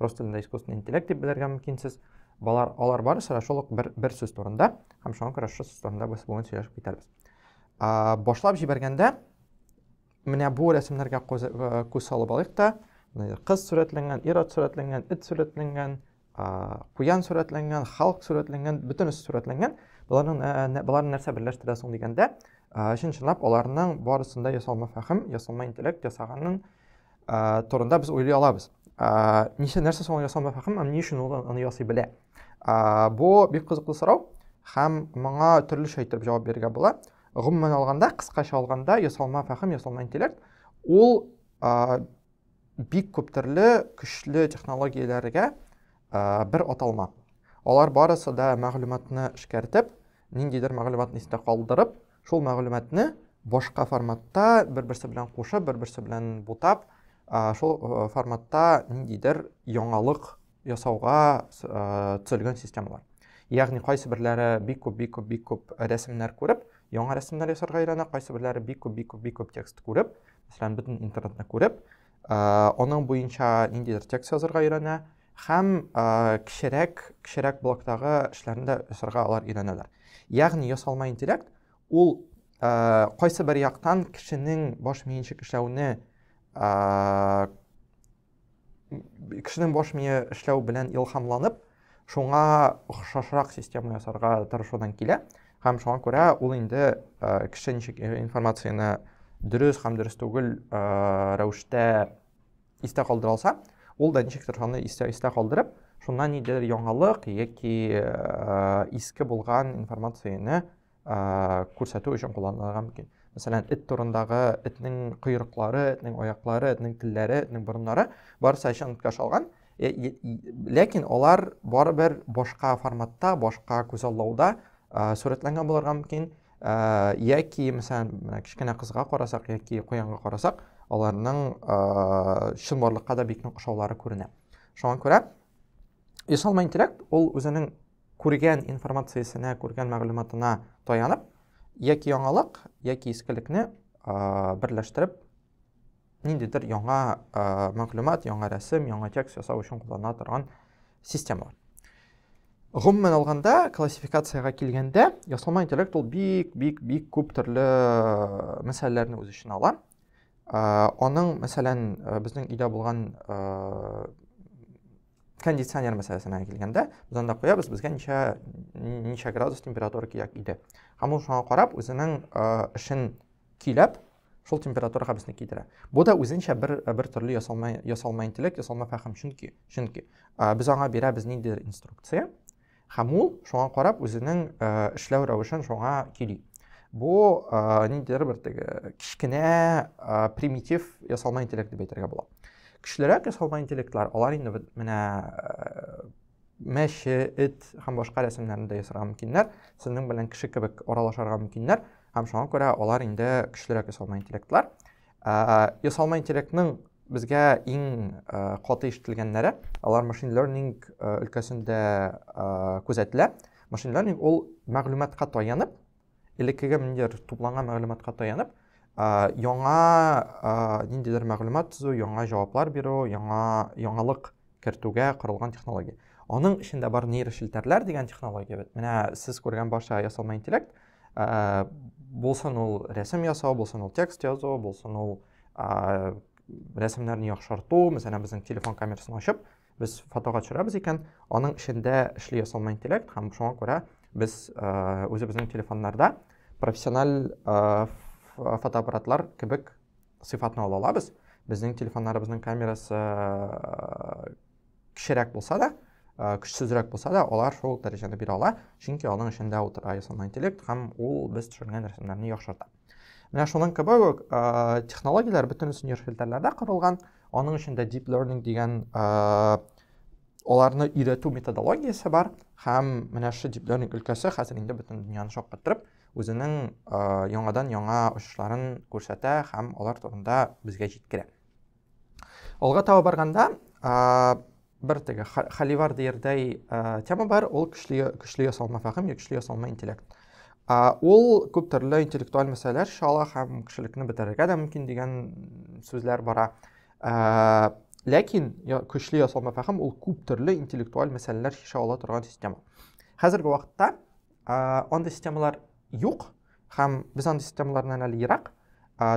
рус телендә искусственный интеллект дип белергә мөмкин сез балар алар барысы да шул ук бер, бер сүз турында һәм шуңа күрә шул сүз турында без бүген сөйләшеп китәрбез ә, башлап җибәргәндә менә бу рәсемнәргә э, күз салып алыйк та кыз сурәтләнгән ир ат сурәтләнгән эт сурәтләнгән куян сурәтләнгән халык сурәтләнгән бөтенесе сурәтләнгән боларның э, боларны нәрсә берләштерә соң дигәндә чын чынлап аларның барысында ясалма фәһем ясалма интеллект ясаганның ә, турында без уйлый алабыз. Ә, ничә нәрсә соң ясалма фәһем һәм ни өчен ул аны ясый белә? Ә, бу бик кызыклы сорау һәм моңа төрлечә итеп җавап бирергә була. Гомумән алганда, кыскача алганда, ясалма фәһем, ясалма интеллект ул ә, бик күп төрле көчле технологияләргә ә, бер аталма. Алар барысы да мәгълүматны эшкәртеп, ниндидер мәгълүматны истә калдырып, Шул мәгълүматны башка форматта бер-берсе белән кушып, бер-берсе белән бутап, шул форматта ниндидер яңалык ясауга төзелгән системалар. Ягъни кайсы берләре бик күп, бик күп, бик күп рәсемнәр күреп, яңа рәсемнәр ясарга өйрәнә, кайсы берләре бик күп, бик күп, бик күп текст күреп, мәсәлән, бөтен интернетны күреп, Аның буенча ниндидер текст язырга өйрәнә һәм кечерәк, кечерәк блоктагы эшләрне дә ясарга алар өйрәнәләр. Ягъни ясалма интеллект ул кайсы бер яктан кешенең баш миенчек эшләүне кешенең баш мие эшләү белән илһамланып, шуңа охшашрак система ясарга тырышудан килә һәм шуңа күрә ул инде э, кеше ничек э, информацияне дөрес һәм дөрес түгел э, рәвештә истә калдыра алса ул да ничектер шуны истә, истә калдырып шуннан ниндидер яңалык яки иске булган информацияне күрсәтү өчен кулланылырга мөмкин мәсәлән эт турындагы этнең койрыклары этнең аяклары этнең телләре этнең борыннары барысы әчәнкә шалган ләкин алар барыбер башка форматта башка күзаллауда сурәтләнгән булырга мөмкин яки мәсәлән кечкенә кызга карасак яки куянга карасак аларның чынбарлыкка да бик нык ошаулары күренә шуңа күрә ясалма интеллект ул үзенең күргән информациясенә, күргән мәгълүматына таянып, яки яңалык, яки искелекне берләштереп, ниндидер яңа мәгълүмат, яңа рәсем, яңа текст ясау өчен куллана торган системалар. Гомумән алганда, классификацияга килгәндә, ясалма интеллект ул бик, бик, бик күп төрле мәсьәләләрне үз эченә ала. Аның, мәсәлән, безнең өйдә булган кондиционер мәсьәләсенә килгәндә без анда куябыз безгә ничә ничә градус температура кирәк иде һәм ул шуңа карап үзенең эшен көйләп шул температураға безне китерә бу да үзенчә бер бер төрле ясалма ясалма интеллект ясалма фәһем чөнки чөнки без аңа бирәбез ниндидер инструкция Һәм ул шуңа карап үзенең эшләү рәвешен шуңа кили. Бу ниндидер бер теге кечкенә примитив ясалма интеллект дип әйтергә була. Көчлерәк ясалма интеллектлар, алар инде менә мәче, эт һәм башка рәсемнәрне дә ясарга мөмкиннәр, сезнең белән кеше кебек аралашарга мөмкиннәр, һәм шуңа күрә алар инде көчлерәк ясалма интеллектлар. ясалма интеллектның безгә иң каты ишетелгәннәре алар машин learning өлкәсендә күзәтелә машин learning ул мәгълүматка таянып элеккеге ниндидер тупланган мәгълүматка таянып яңа ниндидер мәгълүмат төзү яңа җаваплар бирү яңа яңалык кертүгә корылган технология аның эчендә бар нейрошелтәрләр дигән технология бит менә сез күргән барча ясалма интеллект ә, булсын ул рәсем ясау булсын ул текст язу булсын ул ә, рәсемнәрне яхшырту мәсәлән безнең телефон камерасын ачып без фотога төшерәбез икән аның эчендә эшли ясалма интеллект һәм шуңа күрә без ә, үзебезнең телефоннарда профессиональ ә, фотоаппаратлар кебек сыйфатны ала алабыз безнең телефоннарыбызның камерасы э, кішірәк болса да э, көчсезрәк болса да алар шул дәрәҗәне бирә ала чөнки аның эчендә утыра ясалма интеллект һәм ул без төшергән рәсемнәрне яхшырта менә шуның кебек үк э, технологияләр бөтенесе нейрофильтрларда корылган аның эчендә deep learning дигән аларны өйрәтү методологиясе бар һәм менә шу deep learning өлкәсе хәзер инде бөтен дөньяны шаккаттырып үзенең яңадан яңа очышларын күрсәтә һәм алар турында безгә җиткерә. Алга таба барганда, бер теге Халивар диярдәй тема бар, ул көчле көчле ясалма фәһем, көчле ясалма интеллект. Ул күп төрле интеллектуаль мәсьәләләр чала һәм кешелекне бетерергә дә мөмкин дигән сүзләр бара. Ләкин көчле ясалма фәһем ул күп төрле интеллектуаль мәсьәләләр чишә ала торган система. Хәзерге вакытта андый системалар юк һәм без андый системалардан әле ерак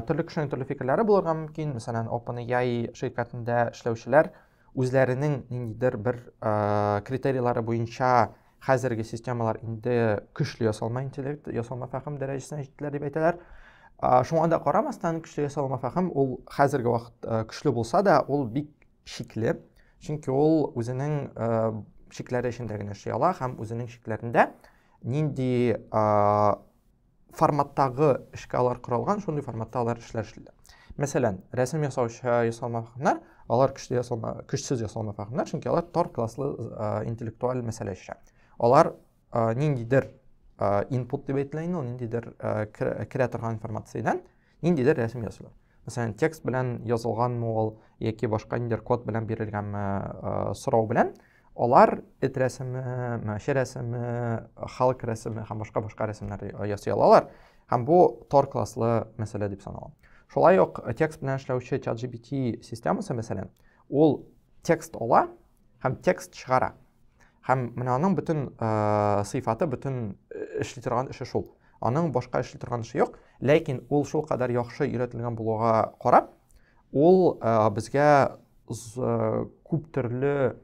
төрле кешенең төрле фикерләре булырга мөмкин мәсәлән OpenAI ширкәтендә эшләүчеләр үзләренең ниндидер бер ә, критерийлары буенча хәзерге системалар инде көчле ясалма интеллект ясалма фәһем дәрәҗәсенә җиттеләр дип әйтәләр ә, шуңа да карамастан көчле ясалма фәһем ул хәзерге вакыт ә, көчле булса да ул бик шикле, чөнки ул үзенең ә, шикләре эчендә генә эшли ала һәм үзенең шикләрендә нинди ә, форматтагы эшкә алар коралган, шундый форматта алар эшләр эшлиләр. Мәсәлән, рәсем ясаучы ясалма фәһемнәр, алар көчле ясалма, көчсез ясалма фәһемнәр, чөнки алар тар класслы ә, интеллектуаль мәсьәлә эшә. Алар ә, ниндидер ә, input дип әйтелә инде, ул ниндидер ә, керә торган информациядән ниндидер рәсем ясыйлар мәсәлән текст белән язылганмы ул яки башка ниндидер код белән бирелгәнме э, сорау белән алар эт рәсеме мәче рәсеме халык рәсеме һәм башка башка рәсемнәр ясый алалар һәм бу тор класслы мәсьәлә дип санала шулай ук э, текст белән эшләүче чат gpt системасы мәсәлән ул текст ала һәм текст чыгара. Һәм менә аның бөтен э, сыйфаты, бөтен э, эшли торган эше шул. Аның башка эшли торган эше юк, ләкин ул шул кадәр яхшы өйрәтелгән булуга карап, ул э, безгә күп төрле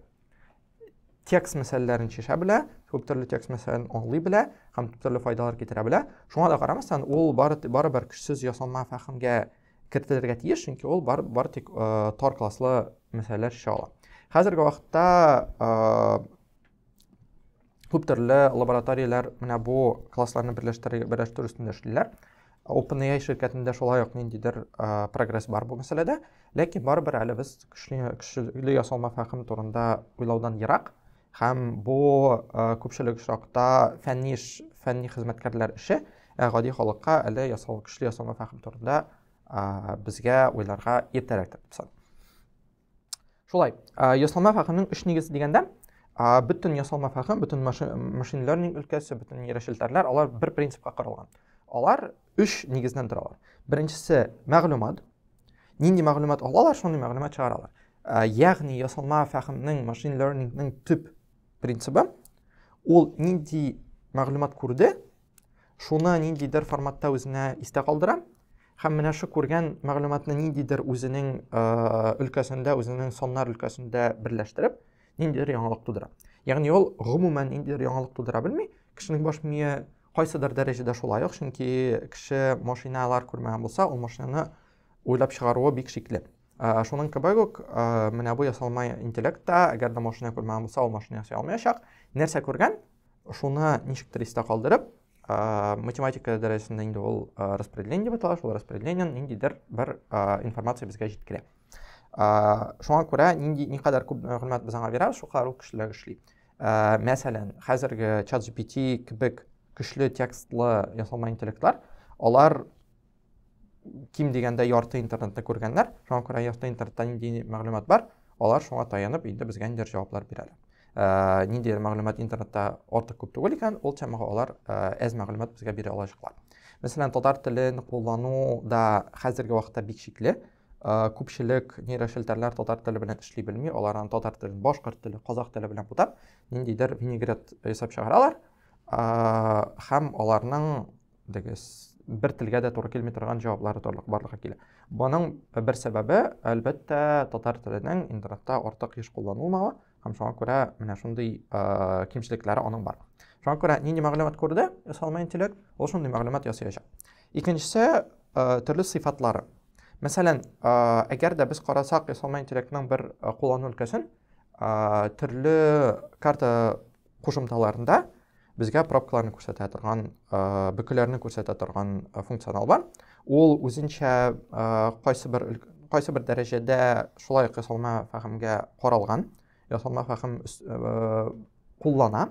текст мәсьәләләрен чишә белә, күп төрле текст мәсьәләләрен аңлый белә һәм төрле файдалар китерә белә. Шуңа да карамастан, ул бары бары бер көчсез ясалма фәһемгә кертелергә тиеш, чөнки ул бар, бар тик ә, тар класслы мәсьәләләр эшли ала. Хәзерге вакытта ә, күп төрле лабораторияләр менә бу классларны берләштерү берләштерү өстендә эшлиләр. OpenAI ширкәтендә шулай ук ниндидер ә, прогресс бар бу мәсьәләдә, ләкин барыбер әле без көчле, көчле ясалма фәһем турында уйлаудан ерак. Һәм бу күпчелек очракта фәнни эш, фәнни хезмәткәрләр эше, ә гади халыкка әле ясалма көчле ясалма фәһем турында безгә уйларга иртәрәк дип саныйм. Шулай, ясалма фәһемнең өч нигезе дигәндә, бөтен ясалма фәһем, бөтен машин learning өлкәсе, бөтен нейрошелтәрләр, алар бер принципка корылган. Алар өч нигездән торалар. Беренчесе мәгълүмат, нинди мәгълүмат алалар шундый мәгълүмат чыгаралар ә, ягъни ясалма фәһемнең машин лернингның төп принцибы ул нинди мәгълүмат күрде шуны ниндидер форматта үзенә истә калдыра һәм менә шу күргән мәгълүматны ниндидер үзенең ә, өлкәсендә үзенең саннар өлкәсендә берләштереп ниндидер яңалык тудыра ягъни ул гомумән ниндидер яңалык тудыра белми кешенең баш мие Кайсыдыр дәрәҗәдә шулай ук, чөнки кеше машиналар күрмәгән булса, ул машинаны уйлап чыгаруы бик шикле. Шуның кебек үк менә бу ясалма интеллект та, әгәр дә машина күрмәгән булса, ул машина ясый алмаячак. Нәрсә күргән, шуны ничектер истә калдырып, математика дәрәҗәсендә инде ул распределение дип атала, шул распределениены ниндидер бер информация безгә җиткерә. Шуңа күрә нинди никадәр күп мәгълүмат без аңа бирәбез, шул кадәр ул көчлерәк эшли. ә, мәсәлән хәзерге чат gpt кебек көчле текстлы ясалма интеллектлар алар ким дигәндә ярты интернетны күргәннәр шуңа күрә ярты интернетта нинди мәгълүмат бар алар шуңа таянып инде безгә ниндидер җаваплар бирә әле ә, ниндидер мәгълүмат интернетта артык күп түгел икән ул темага алар ә, әз мәгълүмат безгә бирә алачаклар мәсәлән татар телен куллану да хәзерге вакытта бик шикле күпчелек нейрошелтәрләр татар теле белән эшли белми, алар аны татар теле, башкорт теле, казах теле белән бутап, ниндидер винегрет ясап чыгаралар. Һәм аларның дигез бер телгә дә туры килми торган җаваплары торлык барлыкка килә. Моның бер сәбәбе, әлбәттә, татар теленең интернетта артык еш кулланылмавы. һәм шуңа күрә менә шундый ә, кимчелекләре аның бар шуңа күрә нинди мәгълүмат күрде ясалма интеллект ул шундый мәгълүмат ясаячак икенчесе ә, төрле сыйфатлары мәсәлән ә, әгәр дә без карасак ясалма интеллектның бер куллану өлкәсен ә, төрле карта кушымталарында безгә пробкаларны күрсәтә торган бөкеләрне күрсәтә торган функционал бар ул үзенчә кайсы бер кайсы бер дәрәҗәдә шулай ук ясалма фәһемгә каралган ясалма фәһем куллана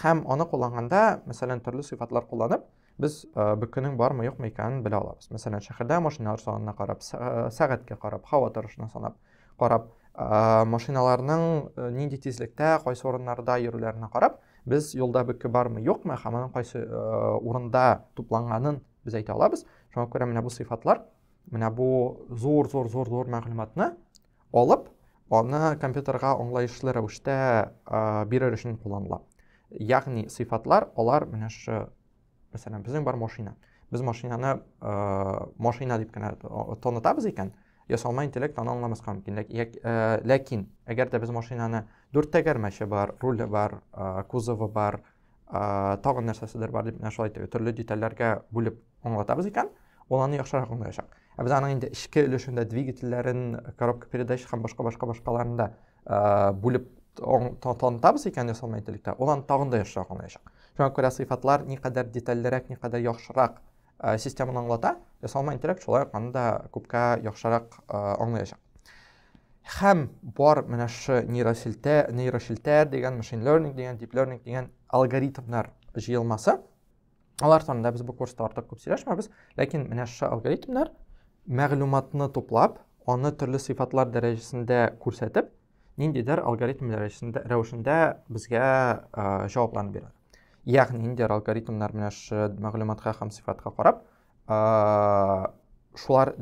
һәм аны кулланганда мәсәлән төрле сыйфатлар кулланып Без э, бер көнең бармы, юкмы икәнен белә алабыз. Мәсәлән, шәһәрдә машиналар санына карап, э, сәгатькә карап, һава торышына санап, карап, э, машиналарның нинди тизлектә, кайсы урыннарда йөрүләренә карап, без юлда бөке бармы, юкмы, һәм аның кайсы урында тупланганын без әйтә алабыз. Шуңа күрә менә бу сыйфатлар, менә бу зур-зур-зур-зур мәгълүматны алып, аны компьютерга аңлаешлы рәвештә бирер өчен кулланыла. Ягъни сыйфатлар алар менә шушы мәсәлән безнең бар машина. Без машинаны машина дип кенә танытабыз икән, ясалма интеллект аны аңламаска мөмкин. Ләкин әгәр дә без машинаны дүрт тәгәрмәче бар, руле бар, кузовы бар, ә, тагын нәрсәседер бар дип менә шулай итеп төрле детальләргә бүлеп аңлатабыз икән ул аны яхшырак аңлаячак ә без аның инде эчке өлешендә двигательләрен коробка передач һәм башка башка башкаларын да ә, бүлеп танытабыз икән ясалма интеллектта ул аны тагын да яхшырак аңлаячак шуңа күрә сыйфатлар никадәр детальлерәк никадәр яхшырак ә, системаны аңлата ясалма интеллект шулай ук аны да күпкә яхшырак ә, аңлаячак Хәм бар менә шушы нейросилтә, нейросилтә дигән машин learning дигән deep learning дигән алгоритмнар җыелмасы. Алар турында без бу курста артык күп сөйләшмәбез, ләкин менә шушы алгоритмнар мәгълүматны туплап, аны төрле сыйфатлар дәрәҗәсендә күрсәтеп, ниндидер алгоритм дәрәҗәсендә рәвешендә безгә җавапларны бирә. Ягъни ниндидер алгоритмнар менә шушы мәгълүматка һәм сыйфатка карап, шулар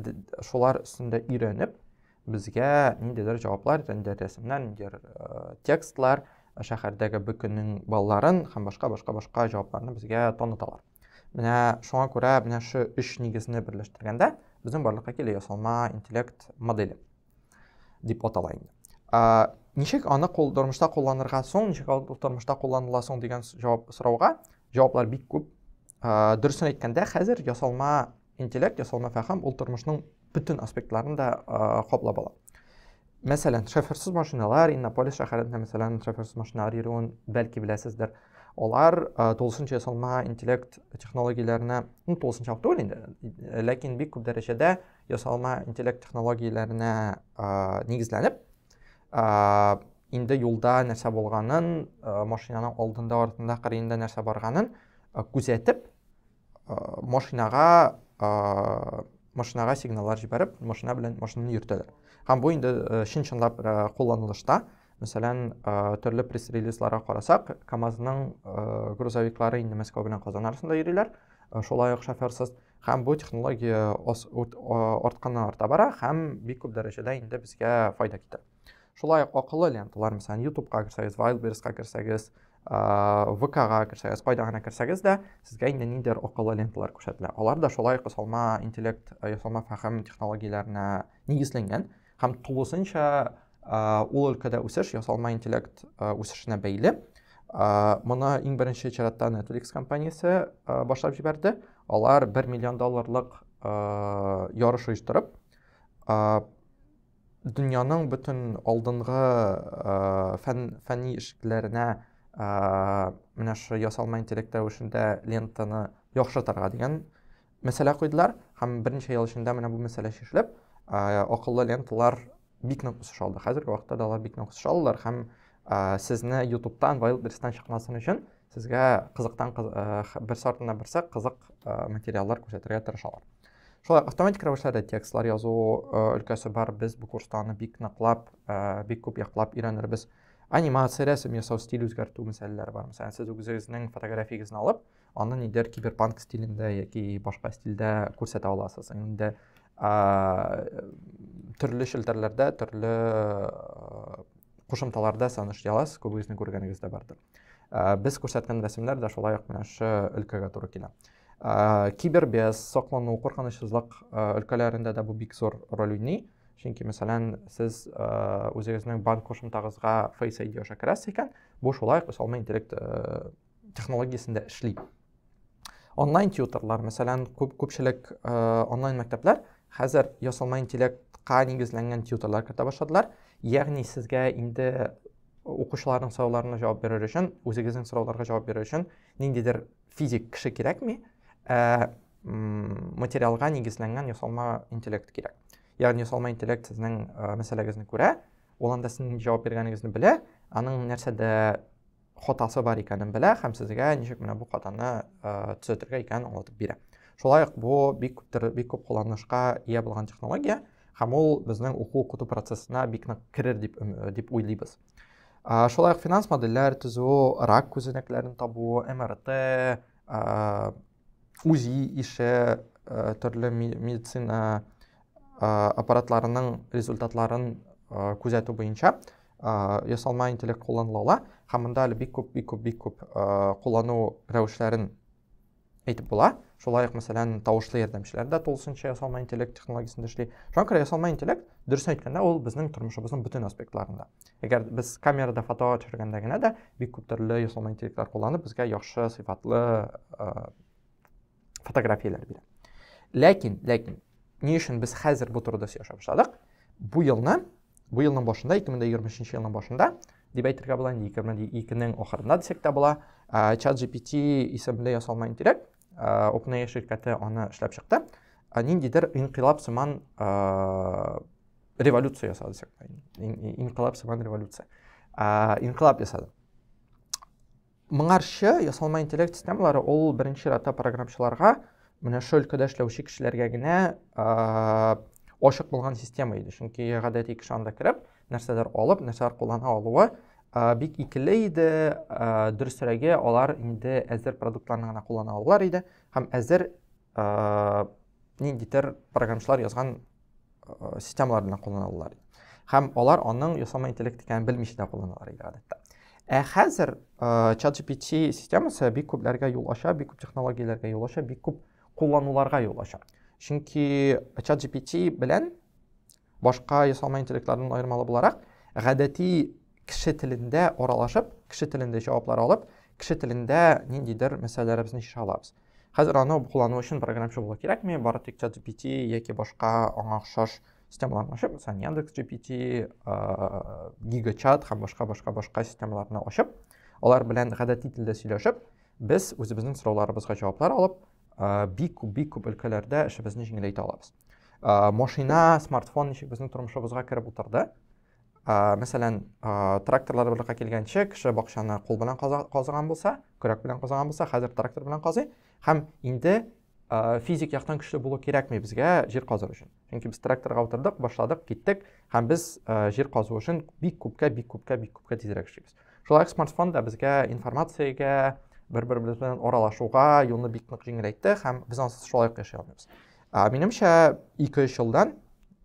шулар өстендә өйрәнеп безгә ниндидер җаваплар ниндидер рәсемнәр ниндидер текстлар шәһәрдәге бөкенең балларын һәм башка башка башка җавапларны безгә таныталар менә шуңа күрә менә шу өч нигезне берләштергәндә безнең барлыкка килә ясалма интеллект модели дип атала инде ә, ничек аны кул, тормышта кулланырга соң ничек ул тормышта кулланыла соң дигән җавап сорауга җаваплар бик күп ә, дөресен әйткәндә хәзер ясалма интеллект ясалма фәһем ул тормышның бөтен аспектларын да ә, каплап ала мәсәлән шоферсыз машиналар иннополис шәһәрендә мәсәлән шоферсыз машиналар йөрүен бәлки беләсездер алар ә, тулысынча ясалма интеллект технологияләренә ну тулысынча түгел инде ләкин бик күп дәрәҗәдә Ясалма интеллект технологияләренә нигезләнеп, инде юлда нәрсә булганын, машинаның алдында артында кырыенда нәрсә барганын күзәтеп, машинага машинага сигналлар җибәреп, машина белән машинаны йөртәләр. Һәм бу инде чын-чынлап кулланылышта. Мәсәлән, төрле пресс-релизларга карасак, КАМАЗның грузовиклары инде Мәскәү белән Казан арасында йөриләр, шулай ук шоферсыз. һәм бу технология артканнан арта бара һәм бик күп дәрәҗәдә инде безгә файда китә шулай ук акыллы ленталар мәсәлән ютубка керсәгез вайлдберска керсәгез вкга керсәгез кайда гына керсәгез дә сезгә инде ниндидер акыллы ленталар күрсәтелә алар да шулай ук ясалма интеллект ясалма фәһем технологияләренә нигезләнгән Һәм тулысынча ул өлкәдә үсеш ясалма интеллект үсешенә бәйле. Моны иң беренче чиратта Netflix компаниясе башлап җибәрде. Алар 1 миллион долларлык ярыш оештырып, дөньяның бөтен алдынгы фән фәнни ишекләренә менә шушы ясалма интеллект рәвешендә лентаны яхшыртырга дигән мәсьәлә куйдылар һәм берничә ел эчендә менә бу мәсьәлә чишелеп акыллы ленталар бик нык үсеш алды хәзерге вакытта да алар бик нык үсеш алдылар һәм сезне ютубтан вайлдберстан чыкмасын өчен сезгә кызыктан берсе артыннан берсе кызык материаллар күрсәтергә тырышалар шулай автоматик рәвештә дә текстлар язу өлкәсе бар без бу курста аны бик ныклап бик күп яклап өйрәнербез анимация рәсем ясау стиль үзгәртү мәсьәләләре бар мәсәлән сез үзегезнең фотографиясен алып аны нидер киберпанк стилендә яки башка стильдә күрсәтә аласыз инде төрле челтәрләрдә төрле кушымталарда саныш яласыз күбегезнең күргәнегез дә бардыр без күрсәткән рәсемнәр дә шулай ук менә шы өлкәгә туры килә кибербез соклану куркынычсызлык өлкәләрендә дә бу бик зур роль уйный чөнки мәсәлән сез үзегезнең банк кушымтагызга фейс айди аша керәсез икән бу шулай ук өстәмә интеллект технологиясендә эшли онлайн тьютерлар мәсәлән күп күпчелек э, онлайн мәктәпләр хәзер ясалма интеллектка нигезләнгән тьютерлар кертә башладылар ягъни сезгә инде укучыларның сорауларына җавап бирер өчен үзегезнең сорауларга җавап бирер өчен ниндидер физик кеше кирәкми ә материалга нигезләнгән ясалма интеллект кирәк ягъни ясалма интеллект сезнең э, мәсьәләгезне күрә ул анда сезнең җавап биргәнегезне белә аның нәрсәдә хатасы бар икәнен белә һәм сезгә ничек менә бу хатаны төзәтергә икәнен аңлатып бирә. Шулай ук бу бик күптер бик күп кулланышка ия булган технология һәм ул безнең уку укыту процессына бик нык керер дип дип уйлыйбыз. Шулай ук финанс модельләр төзү, рак күзәнәкләрен табу, МРТ, УЗИ ише, э, төрле медицина э, аппаратларының результатларын э, күзәтү буенча ясалма интеллект кулланыла ала һәм монда әле бик күп бик күп бик күп куллану рәвешләрен әйтеп була шулай ук мәсәлән тавышлы ярдәмчеләр дә тулысынча ясалма интеллект технологиясендә эшли шуңа күрә ясалма интеллект дөресен әйткәндә ул безнең тормышыбызның бөтен аспектларында Әгәр без камерада фото төшергәндә генә дә бик күп төрле ясалма интеллектлар кулланып, безгә яхшы сыйфатлы э, фотографияләр бирә. Ләкин, ләкин, ни өчен без хәзер бу турыда сөйләшә башладык? Бу елны, бу елның башында, 2023 елның башында, дип әйтергә була, инде 2002 нең ахырында дисәк тә була, э, чат GPT исемле ясалма интеллект OpenAI ширкәте аны эшләп чыкты. Ниндидер инкыйлаб сыман революция ясады дисәк. Инкыйлаб сыман революция. Инкыйлаб ясады. Моңарчы ясалма интеллект системалары ул беренче чиратта программчыларга менә шул өлкәдә эшләүче кешеләргә генә ачык булган система иде. Чөнки гадәти кеше анда кереп, нәрсәдер алып, нәрсәләр куллана алуы бик икеле иде, дөресрәге алар инде әзер продуктларны гына куллана алалар иде һәм әзер ниндидер программчылар язган системаларны куллана алалар иде. Һәм алар аның ясалма интеллект икәнен белмичә дә кулланалар иде гадәттә. Ә хәзер ChatGPT системасы бик күпләргә юл ача, бик күп технологияләргә юл ача, бик күп куллануларга юл ача. Чөнки ChatGPT белән Башка ясалма интеллектлардан аермалы буларак, гадәти кеше телендә аралашып, кеше телендә җаваплар алып, кеше телендә ниндидер мәсьәләләребезне чишә алабыз. Хәзер аны куллану өчен программчы булу кирәкми, бары тик ChatGPT яки башка аңа охшаш системаларны ачып, мәсәлән, Яндекс.GPT, GigaChat һәм башка башка башка системаларны ачып, алар белән гадәти телдә сөйләшеп, без үзебезнең сорауларыбызга җаваплар алып, бик күп бик күп өлкәләрдә эшебезне җиңеләйтә алабыз машина смартфон ничек безнең тормышыбызга кереп утырды мәсәлән тракторлар барлыкка килгәнче кеше бакчаны кул белән казыган булса көрәк белән казыган булса хәзер трактор белән казый һәм инде физик яктан көчле булу кирәкми безгә җир казыр өчен чөнки без тракторга утырдык башладык киттек һәм без җир казу өчен бик күпкә бик күпкә бик күпкә тизрәк эшлибез Шулай ук смартфон да безгә информациягә, бер-беребез белән аралашуга юлны бик нык җиңеләйтте һәм без ансыз шулай ук яши алмыйбыз. Минемчә, 2-3 елдан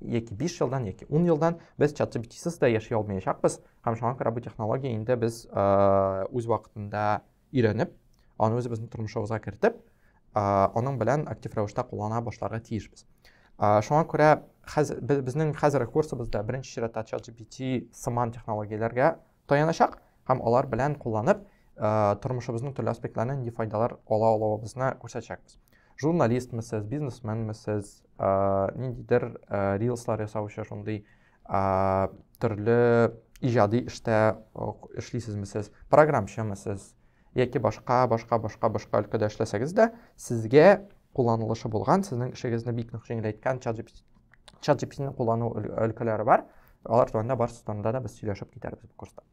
яки 5 елдан яки 10 елдан без чат GPT-сыз да яши алмаячакбыз һәм шуңа күрә бу технология инде без үз вакытында өйрәнеп, аны үзебезнең тормышыбызга кертеп, аның белән актив рәвештә куллана башларга тиешбез. Шуңа күрә хәзер безнең хәзерге курсыбызда беренче чиратта ChatGPT сыман технологияләргә таяначак һәм алар белән кулланып тормышыбызның төрле аспектларынан нинди файдалар ала алуыбызны күрсәтәчәкбез. Журналистмы сез, бизнесменме сез, ниндидер рилслар ясаучы шундый ә, төрле иҗади эштә эшлисезме сез, программчымы сез, яки башка, башка, башка, башка өлкәдә эшләсәгез дә, сезгә кулланылышы булган, сезнең эшегезне бик нык җиңеләйткән ChatGPT-ны куллану өлкәләре бар. Алар турында барысы турында да без сөйләшеп китәрбез бу курста.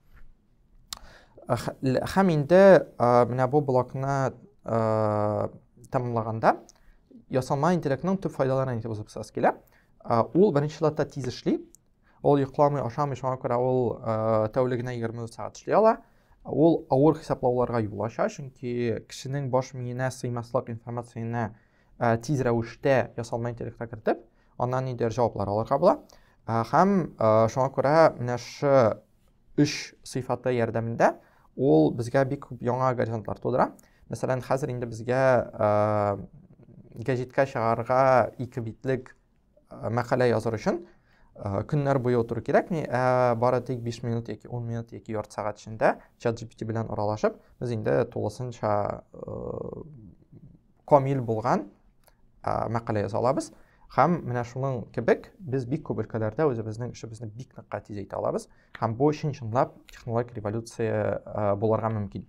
Һәм инде менә бу блокны тәмамлаганда ясалма интеллектның төп файдаларын әйтеп узып килә. Ул беренче чиратта тиз эшли. Ул йокламый, ашамый, шуңа күрә ул тәүлегенә 20 сәгать эшли ала. Ул авыр хисаплауларга юл ача, чөнки кешенең баш миенә сыймаслык информацияне тиз рәвештә ясалма интеллектка кертеп, аннан нидер җаваплар алырга була. Һәм шуңа күрә менә шы Үч сыйфаты ярдәмендә ул безгә бик күп яңа горизонтлар тудыра. Мәсәлән, хәзер инде безгә гәҗиткә чыгарга ике битлек мәкалә языр өчен көннәр буе утыру кирәкми, ә бары тик 5 минут яки 10 минут яки ярты сәгать эчендә чат GPT белән аралашып, без инде тулысынча камил булган ә, мәкалә яза алабыз һәм менә шуның кебек без бик күп өлкәләрдә үзебезнең эшебезне бик нык тизәйтә алабыз һәм бу чын чынлап технологик революция ә, булырга мөмкин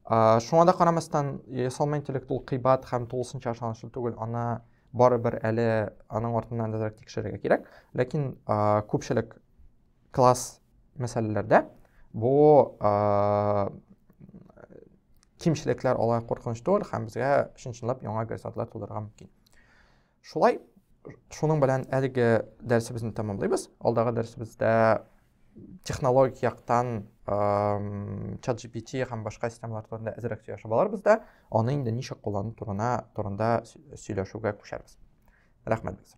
ә, шуңа да карамастан ясалма интеллект ул кыйбат һәм тулысынча ышанычлы түгел аны барыбер әле аның артыннан әзрәк тикшерергә кирәк ләкин ә, күпчелек Класс мәсьәләләрдә бу кимчелекләр алай куркыныч түгел һәм безгә чын-чынлап яңа горизонтлар тудырырга мөмкин. Шулай шуның белән әлеге дәресебезне тәмамлыйбыз. Алдагы дәресебездә технологик яктан чат GPT һәм башка системалар турында әзрәк сөйләшеп алырбыз да, аны инде ничек куллану турына турында сөйләшүгә күчәрбез. Рәхмәт безгә.